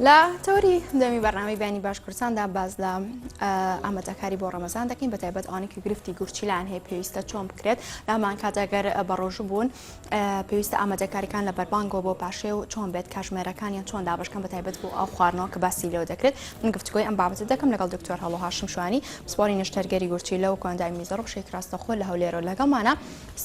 لە تۆری دەمی بەرنامی بینی باش کوردستاندا باز لە ئامادەکاری بۆ ڕەمەزان دەکەین بە تایبەت ئەوانێکی گرفتی گورچیلان هەیە پێویستە چۆن بکرێت لامان کاتەگەر بە ڕۆژوو بوون پێویستە ئامادەکاریەکان لە بەربانگۆ بۆ پاشێ و چۆن بێت کاژمێرەکانیان چۆن دابشکەم بە تایبەت بۆ ئەو خواردنەوە کە باسی لەوە دەکرێت من گفتگوی ئەم بابەتە دەکەم لەگەڵ دکتۆر هەڵۆهاشم شوانی پسپۆری نشتەرگەری گورچیلە و کۆندای میزەڕ و شێکراستەخۆ لە هەولێرەوە لەگەڵمانە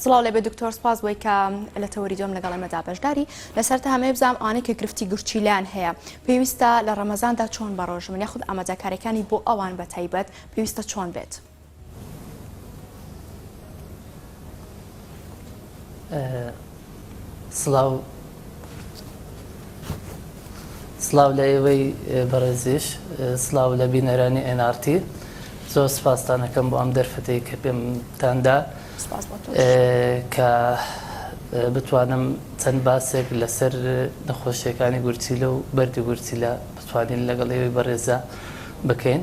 سڵاو لێبێ دکتۆر سپاس بۆی کە لە تەوەری دۆم لەگەڵ ئێمە دابەشداری لەسەر تا هەمەیە بزانام ئەوانەی کە گرفتی گورچیلیان هەیە پێویستە لە ڕەمەزاندا چۆن بەڕۆژمن یاخود ئامادەکاریەکانی بۆ ئەوان بە تایبەت پێویستە چۆن بێت سڵاو سڵاو لە ئێوەی بەڕێزیش سڵاو لە بینەرانی ئێن ئارتی زۆر سپاستانەکەم بۆ ئەم دەرفەتی کە پێمتاندا کە بتوانم چەند باسێک لەسەر نەخۆشیەکانی گورچیلە و بەردی گورچیلە بتوانین لەگەڵ ئێوەی بەڕێزە بکەین.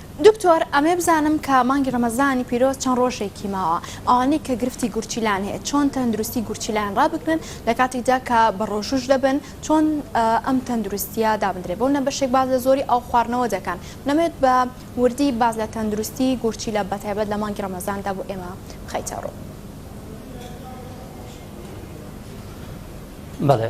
دکتۆر ئەمەی بزانم کە مانگی ڕەمەزانی پیرۆز چەند ڕۆژێکی ماوە ئەوانەی کە گرفتی گورچیلان هەیە چۆن تەندروستی گورچیلان ڕابگرن لە کاتیکدا کە بە ڕۆژووش دەبن چۆن ئەم تەندروستیە دابندرێ بۆ منە بەشێک باز لە زۆری ئاو خواردنەوە دەکەن نەمەوێت بە وردی باز لە تەندروستی گورچیلە بە تایبەت لە مانگی ڕەمەزاندا بۆ ئێمە بخەیتە ڕوو. بەڵێ.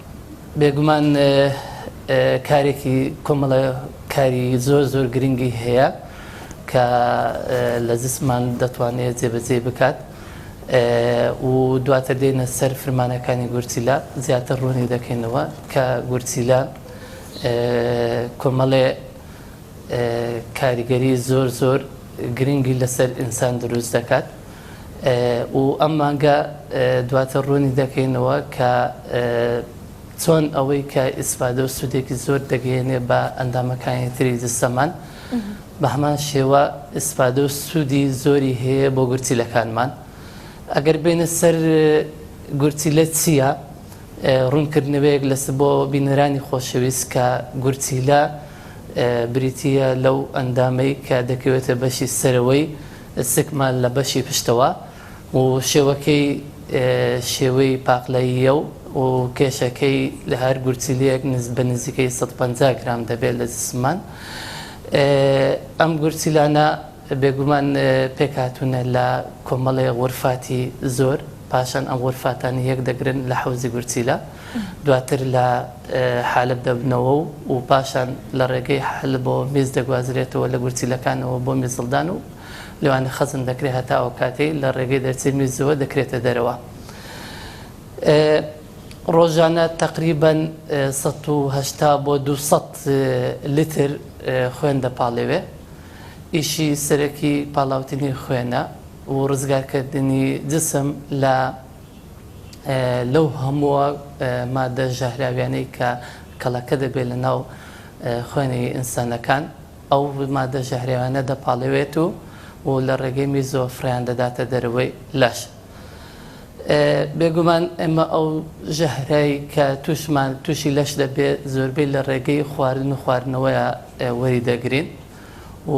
بێگومان کارێکی کۆمەڵە کاری زۆر زۆر گرنگی هەیە کە لە زسمان دەتوانێت جێبەجێ بکات و دواتر دێنە سەر فرمانەکانی گورچیلا زیاتر ڕوونی دەکەینەوە کە گورچیلا کۆمەڵێ کاریگەری زۆر زۆر گرنگی لەسەر ئینسان دروست دەکات و ئەم مانگە دواتر ڕوونی دەکەینەوە کە چۆن ئەوەی کە ئیسفادە و سوودێکی زۆر دەگەیەنێ بە ئەندامەکانی تری جسەمان بە هەمان شێوە ئیسفادە و سوودی زۆری هەیە بۆ گورچیلەکانمان ئەگەر بینە سەر گورچیلە چییە؟ ڕوونکردنەوەیەک لەس بۆ بینەرانی خۆشەویست کە گورچیلە بریتییە لەو ئەندامەی کە دەکەوێتە بەشی سەرەوەی سکمان لە بەشی پشتەوە و شێوەکەی شێوەی پاقلەییە و کێشەکەی لە هەر گورچیلەیەک بە نزیکەی سەد و پەنجا گرام دەبێت لە جسممان. ئەم گورچیلانە بێگومان پێکهاتوونە لە کۆمەڵێ غورفاتی زۆر. پاشان ئەم غورفاتانە یەک دەگرن لە حەوزی گورچیلە، دواتر لە حەلەب دەبنەوە و و پاشان لە ڕێگەی حەلەبەوە میز دەگوازرێتەوە لە گورچیلەکانەوە بۆ میزڵدان و لەوانە خەزن دەکرێت هەتا ئەوکاتەی لە ڕێگەی دەرچەی میزەوە دەکرێتە دەرەوە. ڕۆژانە تەقریبەن سەد و هەشتا بۆ دوو سەد لیتر خوێن دەپاڵێوێ. ئیشی سەرەکی پاڵاوتنی خوێنە و ڕزگارکردنی جسم لە لەو هەمووە مادە ژەهراویانەی کە کەڵەکە دەبێت لەناو خوێنی ئینسانەکان ئەو مادە ژەهراویانە دەپاڵێوێت و و لە ڕێگەی میزۆ فڕیان دەداتە دەرەوەی لەش بێگومان ئێمە ئەو ژەهرای کە توشمان تووشی لەش دەبێت زۆربەی لە ڕێگەی خواردن و خواردنەوەیە وەری دەگرین و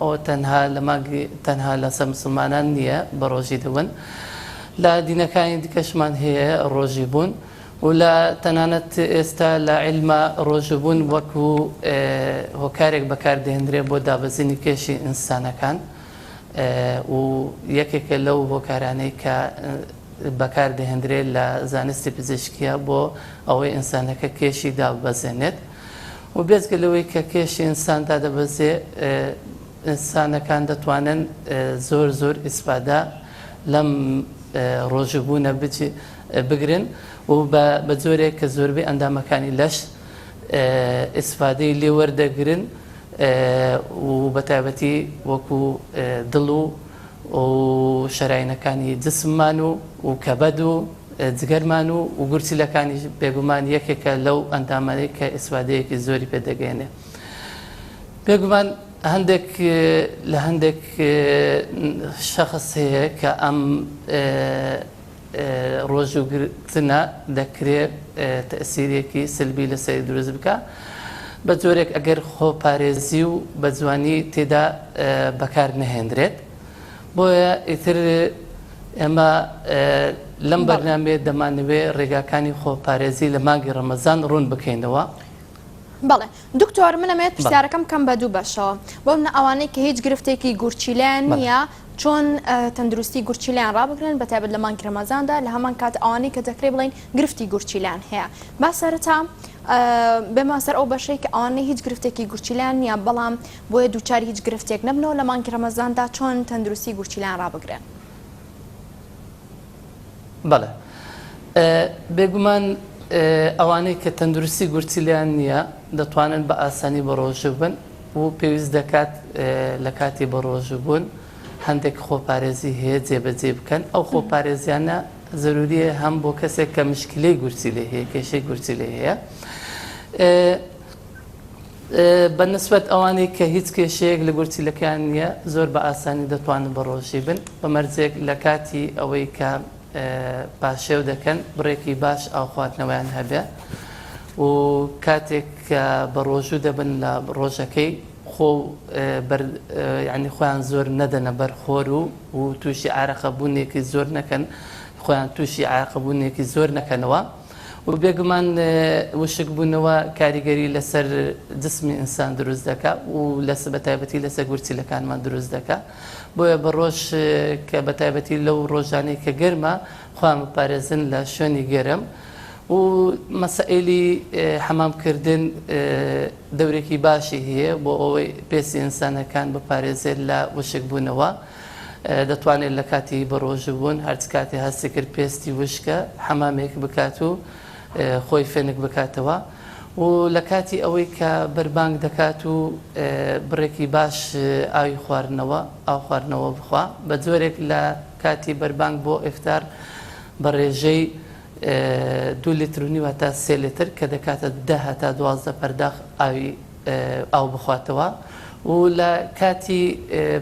ئەوە تەنها لە مانگ تەنها لەسەر مسوڵمانان نییە بە ڕۆژی دەون لە دینەکانی دیکەشمان هەیە ڕۆژی بوون و لە تەنانەت ئێستا لە عیلما ڕۆژبوون وەکو هۆکارێک بەکاردێنرێ بۆ دابەزینی کێشی ئینسانەکان و یەکێکە لەو هۆکارانەی کە بەکاردێنرێت لە زانستی پزیشکیە بۆ ئەوەی ئینسانەکە کێشی داببەزێنێت. و بێجگە لەوەی کە کێشی ئینسان دادەبەزێ ئینسانەکان دەتوانن زۆر زۆر ئیسفادە لەم ڕۆژبوونە بگرن و بە جۆرێک کە زۆربەی ئەندامەکانی لەش ئیسفادەی لێوەردەگرن و بەتابەتی وەکو دڵ و و شەراینەکانی جسممان و و کەبەد و جگەرمان و و گورچیلەکانیش بێگومان یەکێکە لەو ئەندامانەی کە ئیسفادەیەکی زۆری پێ دەگەیەنێ بێگومان هەندێک لە هەندێک شەخص هەیە کە ئەم ڕۆژوو گرتنە دەکرێت تەئسیرێکی سلبی لەسەری دروست بکا بە جۆرێک ئەگەر خۆپارێزی و بەجوانی تێدا بەکار نەهێندرێت بۆیە ئیتر ئێمە لەم بەرنامێ دەمانەوێ ڕێگاکانی خۆپارێزی لە مانگی ڕەمەزان ڕوون بکەینەوە. بەڵێ دکتۆر منەمەوێت پرسیارەکەم کەم بە دوو بەشەوە بۆ منە ئەوانەی کە هیچ گرفتێکی گورچیلیان نییە چۆن تەندروستی گورچیلەیان ڕابگرن بە تایبەت لە مانگی رەمەزاندا لە هەمان کات ئەوانەی کە دەکرێ بڵین گرفتی گورچیلان هەیە با سەرتا بێمە سەر ئەو بەشەی کە ئەوانەی هیچ گرفتێکی گورچیلان نیە بەڵام بۆیە دووچاری هیچ گرفتێک نەبنەوە لە مانگی رەمەزاندا چۆن تەندروستی گورچیلان ڕابگرن بەڵێ بێگومان ئەوانەی کە تەندروستی گورچیلیان نییە دەتوانن بە ئاسانی بە ڕۆژوو بن و پێویست دەکات لە کاتی بەڕۆژووبوون هەندێک خۆپارێزی هەیە جێبەجێی بکەن، ئەو خۆپارێزیانە زەروریە هەم بۆ کەسێک کە مشکلەی گورچی لێ هەیە کێشەی گورچی لێ هەیە بە نسبەت ئەوانەی کە هیچ کێشەیەک لە گورچیلەکەیان نییە زۆر بە ئاسانی دەتوانن بەڕۆژی بن بە مەرجێک لە کاتی ئەوەی کە پاشێو دەکەن بڕێکی باش ئاو خواردنەوەیان هەبێ و کاتێک کە بە ڕۆژوو دەبن لە ڕۆژەکەی خۆ ینی خۆیان زۆر نەدەنە بەر خۆر و و تووشی ئارەقەبوونێکی زۆر نەکەن خۆیان تووشی ئاقبوونێکی زۆر نەکەنەوە و بێگومان وشک بوونەوە کاریگەری لەسەر جسمی ئینسان دروست دەکە و لەس بە تایبەتی لەسەر گورچیلەکانمان دروست دەکە. بۆیە بە ڕۆژ کە بە تایبەتی لەو ڕۆژانەی کە گەرمە خۆیان بپارێزن لە شوێنی گەرم و مەسەئیلی حەمام کردن دەورێکی باشی هەیە بۆ ئەوەی پێسی ئینسانەکان بپارێزێت لە وشک بوونەوە. دەتوانێت لە کاتی بەڕۆژبوون هەرچ کاتێ هەستی کرد پێستی وشکە حەمامێک بکات و خۆی فێنک بکاتەوە. و لە کاتی ئەوەی کە بەربانگ دەکات و بڕێکی باش ئاوی خواردنەوە، ئاو خواردنەوە بخوا، بە جۆرێک لە کاتی بەربانگ بۆ ئیفتار بە ڕێژەی دوو لیتر و نیو هەتا سێ لیتر کە دەکاتە دە هەتا دوازدە پەرداخ ئاوی ئاو بخواتەوە و لە کاتی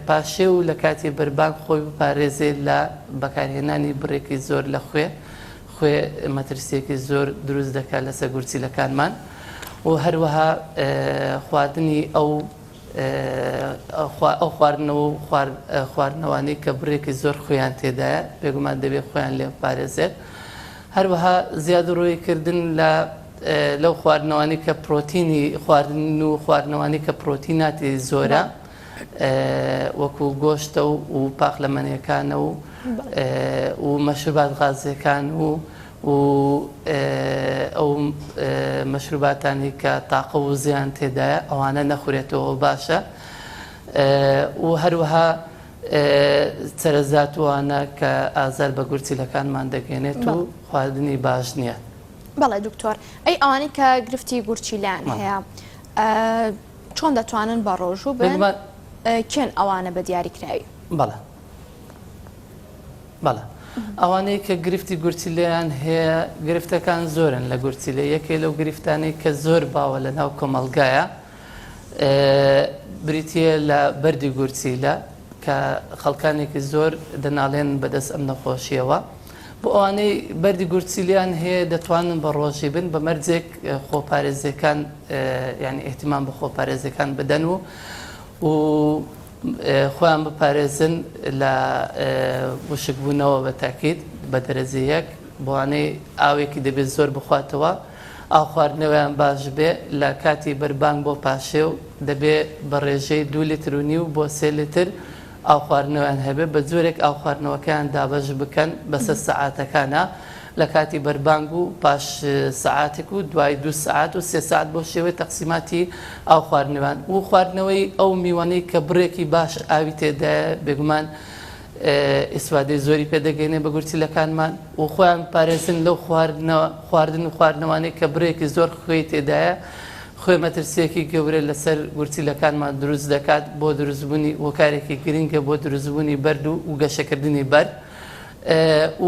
پاشێو و لە کاتی بەربانگ خۆی بپارێزێ لە بەکارهێنانی بڕێکی زۆر لە خوێ خوێ مەترسییەکی زۆر دروست دەکات لەسەر گورچیلەکانمان و هەروەها خواردنی ئەو ئەو خواردنەوە و خواردنەوانی کە بڕێکی زۆر خوێیان تێدایە بێگومان دەبێت خۆیان لێ پارێزێت هەروەها زیاد و ڕووی کردن لە لەو خواردنەوانی کە پرۆتینی خواردن و خواردنەوانی کە پرۆتیناتی زۆرە. وەکو گۆشتە و و پاقلەمەنێکانە و و مەشروبات غازیەکان و و ئەو مەشروباتانی کە تاقە و زیان تێدایە ئەوانە نەخورێتەوە باشە و هەروەها چرەزاتوانە کە ئازار بە گورچیلەکانمان دەگەێنێت و خواردنی باش نییە. بەڵێ دکتۆر ئەی ئەوانی کە گرفتی گورچیلان هەیە. چۆن دەتوانن بەڕۆژوو بن؟ کێن ئەوانە بە دیاریکراوی؟ بەڵێ بەڵێ ئەوانەی کە گرفتی گورچیلەیان هەیە گرفتەکان زۆرن لە گورچیلە یەکێ لەو گرفتانەی کە زۆر باوە لە ناو کۆمەلگایە بریتە لە بەری گورچیلە کە خەڵکانێکی زۆر دەناڵێن بەدەست ئەم نەخۆشیەوە بۆ ئەوانەی بەردی گورچیلیان هەیە دەتوانن بە ڕۆژی بن بە مەرجێک خۆپارێزیەکان یانی ئیهتیمام بە خۆپارێزیەکان بدەن و و خۆیان بپارێزن لە وشکبوونەوە بە تاکیت بە دەرەجە یەک بۆوانەی ئاوێکی دەبێت زۆر بخواتەوە ئاو خواردنەوەیان باش بێ لە کاتی بەربانگ بۆ پاشێ و دەبێ بە ڕێژەی دوو لتر و نیو بۆ سێ لتر ئاو خواردنەوەیان هەبێت، بە جۆرێک ئاو خواردنەوەکەیان دابەش بکەن بەسەر سەعاتەکانا، لە کاتی بەربانگ و پاش سەعاتێک و دوای دوو سەعات و سێ سەعات بەو شێوەیە تەقسیماتی ئاو خواردنەوەیان و خواردنەوەی ئەو میوەنەی کە بڕێکی باش ئاوی تێدایە بێگومان ئیسفادەی زۆری پێ دەگەینێ بە گورچیلەکانمان و خۆیان بپارێزن لەو خواردن و خواردنەوانەی کە بڕێکی زۆر خوێی تێدایە خۆی مەترسییەکی گەورە لەسەر گورچیلەکانمان دروست دەکات بۆ دروستبوونی هۆکارێکی گرنگە بۆ دروستبوونی بەرد و گەشەکردنی بەرد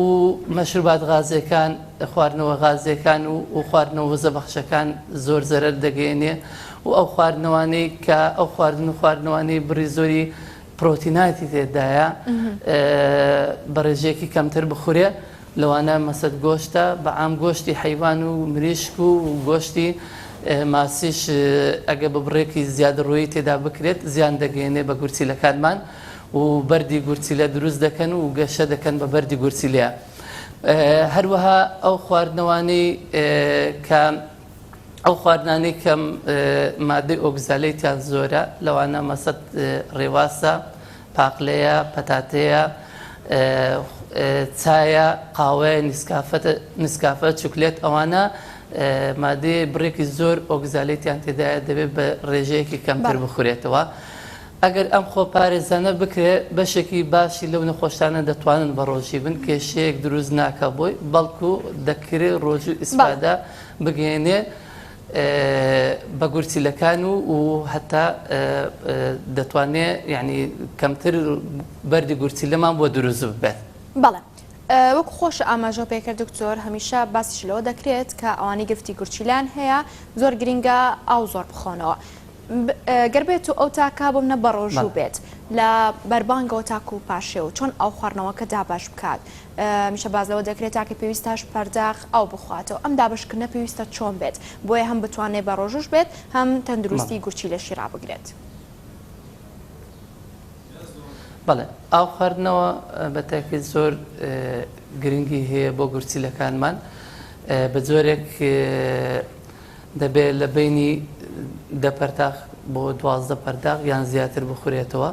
و مەشروبات غازیەکان خواردنەوە غازیەکان و و خواردنەوە وزە بەخشەکان زۆر زەرەر دەگەیەنێ و ئەو خواردنەوانەی کە ئەو خواردن و خواردنەوانەی بڕی زۆری پرۆتیناتی تێدایە بە ڕێژەیەکی کەمتر بخورێ لەوانە مەسەد گۆشتە بە عام گۆشتی حەیوان و مریشک و گۆشتی ماسیش ئەگەر بە بڕێکی زیادەڕۆیی تێدا بکرێت زیان دەگەیەنێت بە گورچیلەکانمان و بەردی گورچیلە دروست دەکەن و گەشە دەکەن بە بەردی گورچیلە هەروەها ئەو خواردنەوانەی کە ئەو خواردنانەی کەم مادەی ئۆگزالەی تیان زۆرە لەوانە مەسەد ڕێواسە پاقلەیە، پەتاتەیە، چایە، قاوەیە، نیسکافە، چوکلێت ئەوانە مادەیە بڕێکی زۆر ئۆگزالێتیان تێدایە دەبێت بە ڕێژەیەکی کەمتر بخورێتەوە. ئەگەر ئەم خۆ پارێزانە بکرێت بەشێکی باشی لەو نەخۆشانە دەتوانن بە ڕۆژی بن کێشەیەک دروست ناکە بۆی بەڵکو دەکرێت ڕۆژوو ئیسفادە بگەێنێ. بە گورچیلەکان و و هەتا دەتوانێ یعنی کەمتر بەردی گورچیلەمان بۆ دروست ببێت. بەڵێ وەکو خۆش ئاماژە پێکرد دکتۆر هەمیشە باسیش لەوە دەکرێت کە ئەوانی گرفتی گورچیلان هەیە زۆر گرنگە ئاو زۆر بخۆنەوە گەر بێت و ئەو تاکە بۆم نە بەڕۆژوو بێت لە بەربانگەوە تاکو و پاشێ و چۆن ئاو خواردنەوەکە دابش بکات هەمیشە باس لەوە دەکرێت تاکە پێویستە هەشت پەرداخ ئاو بخواتەوە، ئەم دابەشکردنە پێویستە چۆن بێت بۆیە هەم بتوانێت بە ڕۆژووش بێت هەم تەندروستی گورچیلەشی ڕابگرێت؟ بەڵێ ئاو خواردنەوە بە تاکێت زۆر گرنگی هەیە بۆ گورچیلەکانمان بە جۆرێک دەبێت لە بینی دە پەرداخ بۆ دوازدە پەرداخ یان زیاتر بخورێتەوە،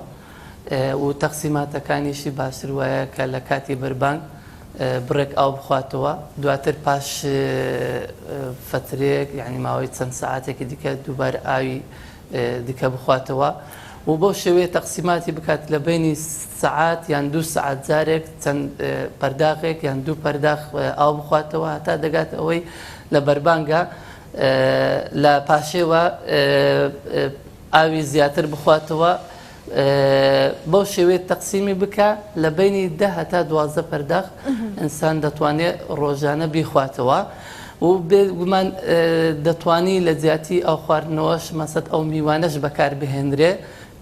و تەقسیماتەکانیشی باشتر وایە کە لە کاتی بەربانگ بڕێک ئاو بخواتەوە دواتر پاش فەترێک یعنی ماوەی چەند سەعاتێکی دیکە دووبار ئاوی دیکە بخواتەوە و بەو شێوەیە تەقسیماتی بکات لە بینی سەعات یان دوو سەعات جارێک چەند پەرداغێک یان دوو پەرداخ ئاو بخواتەوە هەتا دەگات ئەوەی لە بەربانگە لە پاشێوە ئاوی زیاتر بخواتەوە بەو شێوەیە تەقسیمی بکە لە بینی دە هەتا دوازدە پەرداخ ئینسان دەتوانێت ڕۆژانە بیخواتەوە و بێگومان دەتانی لە جیاتی ئەو خواردنەوەش مەسەد ئەو میوانەش بەکار بهێنرێ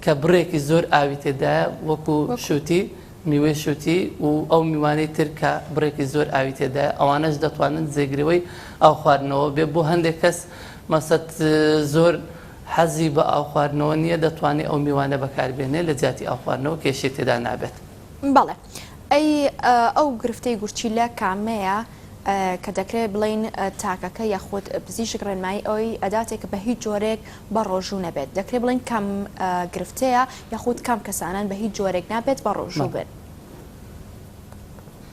کە بڕێکی زۆر ئاوی تێدایە وەکو شووتی میوەی شووتی و ئەو میوانەی تر کە بڕێکی زۆر ئاوی تێدایە ئەوانەش دەتوانن جێگرەوەی ئاو خواردنەوە بێ بۆ هەندێک کەس مەسەد زۆر حەزی بە ئاو خواردنەوە نیە دەتوانێ ئەو میوانە بەکار بێنێ لە جیاتی ئاو خواردنەوە کێشەی تێدا نابێت. بەڵێ ئەی ئەو گرفتەی گورچیلە کامەیە کە دەکرێت بڵێین تاکەکە یاخود پزیشک ڕێنمایی ئەوەی ئەداتێ کە بەهیچ جۆرێک بە ڕۆژوو نەبێت دەکرێت بڵێین کام گرفتەیە یاخود کام کەسانەن بە هیچ جۆرێک نابێت بە ڕۆژوو بن.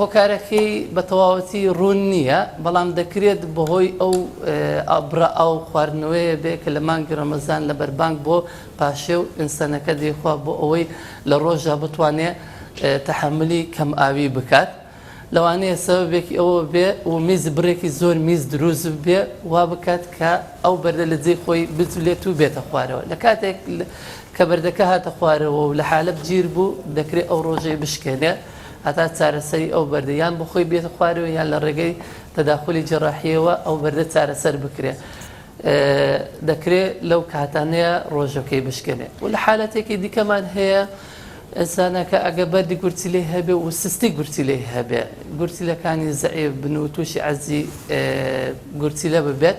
هۆکارەکەی بە تەواوەتی ڕوون نییە، بەڵام دەکرێت بەهۆی ئەو بڕە ئاو خواردنەوەیە بێت کە لە مانگی ڕەمەزان لە بەربانگ بۆ پاشێو ئینسەنەکە دەیخوا بۆ ئەوەی لە ڕۆژدا بتوانێت تەحەمولی کەم ئاوی بکات لەوانەیە سەبەبێکی ئەوە بێ و میز بڕێکی زۆر میز دروست بێت وابکات کە ئەو بەردە لە جێی خۆی بجولێت و بێتە خوارەوە لە کاتێک کە بەردەکە هاتە خوارەوە و لە حالەب گیر بوو، دەکرێت ئەو رۆژەی بشکێنێت هەتا چارەسەری ئەو بەردە یان بە خۆی بێتە خوارەوە یان لە رێگەی تەداخولی جەراحییەوە ئەو بەردە چارەسەر بکرێت. دەکرێت لەو کاتانەیە رۆژەکەی بشکێنێت و لە حالەتێکی دیکەمان هەیە ئینسانەکە ئەگەر بەردی گورچیلەی هەبێت و سستی گورچیلەی هەبێت، گورچیلەکانی زەعیف بن و تووشی عەزی گورچیلە ببێت،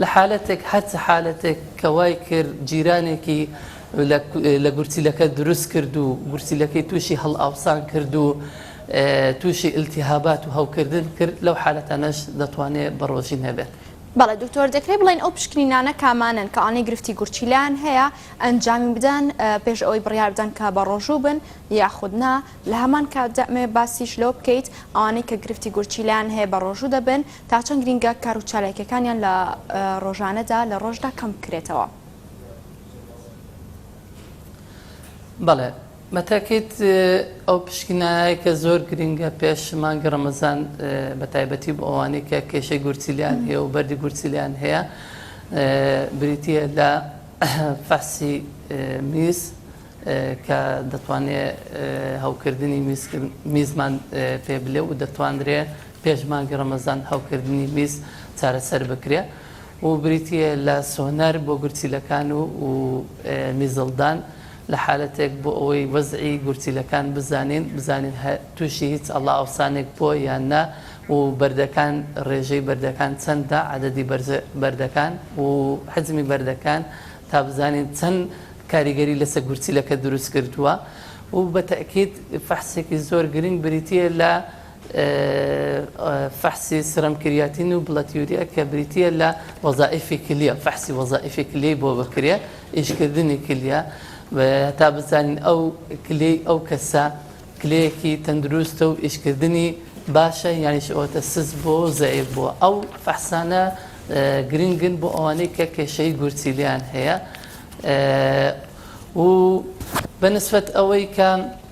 لە حالەتێک هەر چ حالەتێک کە وای کرد جیرانێکی لە گورچیلەکە دروست کرد و گورچیلەکەی تووشی هەڵئاوسان کرد و تووشی التهابات و هەوکردن کرد لەو حالەتانەش دەتوانێت بە ڕۆژین هەبێت. بەڵێ دکتۆر دەکرێت بڵێین ئەو پشکنینانە کامانەن کە ئەوانەی گرفتی گورچیلەیان هەیە ئەنجامی بدەن پێش ئەوەی بڕیار بدەن کە بە ڕۆژوو بن یاخود نا، لە هەمان کاتدا ئەمەوێت باسیش لەوە بکەیت ئەوانەی کە گرفتی گورچیلەیان هەیە بە ڕۆژوو دەبن، تا چەند گرینگە کار و چالاکیەکانیان لە ڕۆژانەدا لە ڕۆژدا کەم بکرێتەوە؟ بەڵێ بەتاکید ئەو پشکنایە کە زۆر گرینگە پێش مانگی ڕەمەزان بە تایبەتی بۆ ئەوانەی کە کێشەی گورچیلیان هەیە و بەردی گورچیلیان هەیە بریتە لە فەحسی میز کە دەتوانێت هەوکردنی میزمان پێ بلێ و دەتوانرێ پێش مانگی ڕەمەزان هەوکردنی میز چارەسەر بکرێ و بریتییە لە سۆنەر بۆ گورچیلەکان و میزڵدان لە حالەتێک بۆ ئەوەی وەزعی گورچیلەکان بزانین بزانین تووشی هیچ ئەڵا ئەوسانێک بۆ یان نا و بەردەکان ڕێژەی بەردەکان چەندە عەدەدی بەردەکان و حەجمی بەردەکان تا بزانین چەند کاریگەری لەسە گورچیلەکە دروست کردووە و بە تەئکید فەحسێکی زۆر گرنگ بریتییە لە فەحسی سرم کریاتین و بڵەد یوریا کە بریتییە لە وەزائیفی کلیە فەحسی وەزائیفی کلیەی بۆ بکرێ ئیشکردنی کلیە تا بزانین ئەو کلەی ئەو کەسە کلەیەکی تەندروستە و ئیشکردنی باشە یانیش ئەوەتە سز بۆ زەیف بووە ئەو فەحسانە گرنگن بۆ ئەوانەی کە کێشەی گورچیلیان هەیە و بەنسبەت ئەوەی کە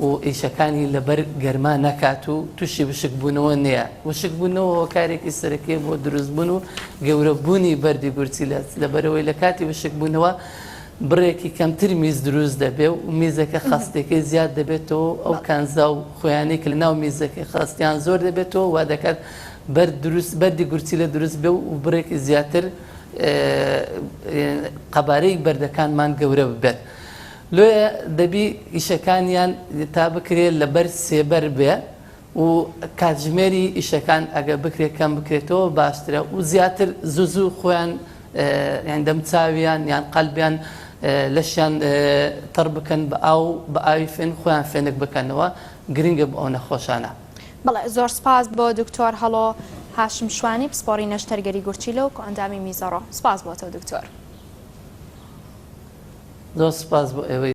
و ئیشەکانی لەبەر گەرما نەکات و تووشی وشکبوونەوە نەیە. وشکبوونەوە هۆکارێکی سەرەکییە بۆ دروستبوون و گەورەبوونی بەردی گورچیلەت، لەبەرئەوەی لە کاتی وشکبوونەوە بڕێکی کەمتر میز دروست دەبێت و میزەکە خەستییەکەی زیاد دەبێتەوە و ئەو کانزا و خۆیانەی کە لەناو میزەکەی خەستیان زۆر دەبێتەوە وا دەکات بەردی گورچیلە دروست بێت و بڕێکی زیاتر قەبارەی بەردەکانمان گەورە ببێت. لۆیە دەبی ئیشەکانیان تا بکرێ لەبەر سێبەر بێ و کاتژمێری ئیشەکان ئەگەر بکرێ کەم بکرێتەوە باشترە و زیاتر زوو زوو خۆیان یان دەموچاویان یان قەلبیان لەشیان تەڕ بکەن بە ئاو بە ئاوی فێن خۆیان فێنک بکەنەوە گرنگە بۆ ئەو نەخۆشانە. بەڵێ زۆر سپاس بۆ دکتۆر هەڵۆ هاشم شوانی پسپۆڕی نەشتەرگەری گورچیلە و کۆئەندامی میزەڕۆ سپاس بۆ تۆ دکتۆر. زۆر سپاس بۆ ئێوەی.